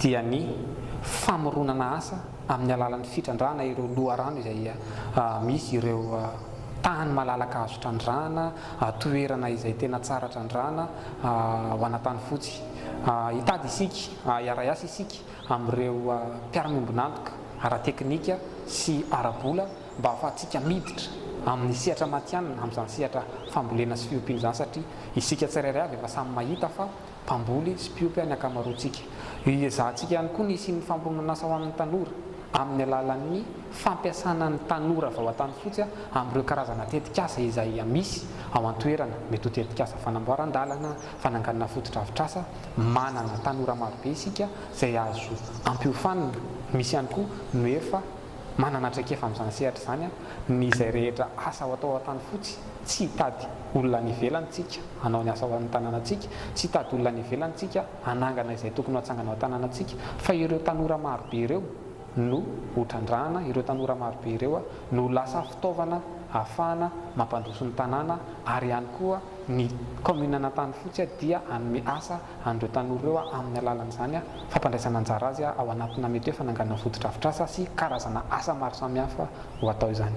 dia ny famoronana asa amin'ny alalan'ny fitrandrahana ireo loharano izay misy ireo tany malalaka azo trandrahana, toerana izay tena tsara trandrahana ho ana tany fotsy. Hitady isika, hiara-hiasa isika amin'ireo mpiara-miombon'antoka ara-teknika sy ara-bola mba hahafahantsika miditra amin'ny sehatra matihanina amin'izany sehatra fambolena sy fiompiana izany satria isika tsirairay avy efa samy mahita fa mpamboly sy mpiompy any ankamaroantsika. Io iezahantsika ihany koa ny hisian'ny famoronan'asa ho an'ny tanora amin'ny alalan'ny fampiasana ny tanora avy ao an-tanifotsy amin'ireo karazana tetikasa izay misy ao an-toerana, mety ho tetikasa fanamboaran-dalana, fananganana fotodrafitrasa, manana tanora marobe isika izay azo ampiofanina, misy ihany koa no efa. Manana traikefa amin'izany sehatra izany an, ny izay rehetra asa ho atao ao Antanifotsy, tsy hitady olona any ivelany tsika hanao ny asa ao amin'ny tanànantsika, tsy hitady olona any ivelany tsika hanangana izay tokony ho atsangana ao an-tanànantsika fa ireo tanora marobe ireo no ho trandrahana, ireo tanora marobe ireo no ho lasa fitaovana ahafahana mampandroso ny tanàna ary ihany koa ny kaominin'Antanifotsy dia hanome asa an'ireo tanora ireo amin'ny alalan'izany fampandraisana anjara azy ao anatina mety hoe fananganana fotodrafitrasa sy karazana asa maro samihafa ho atao izany.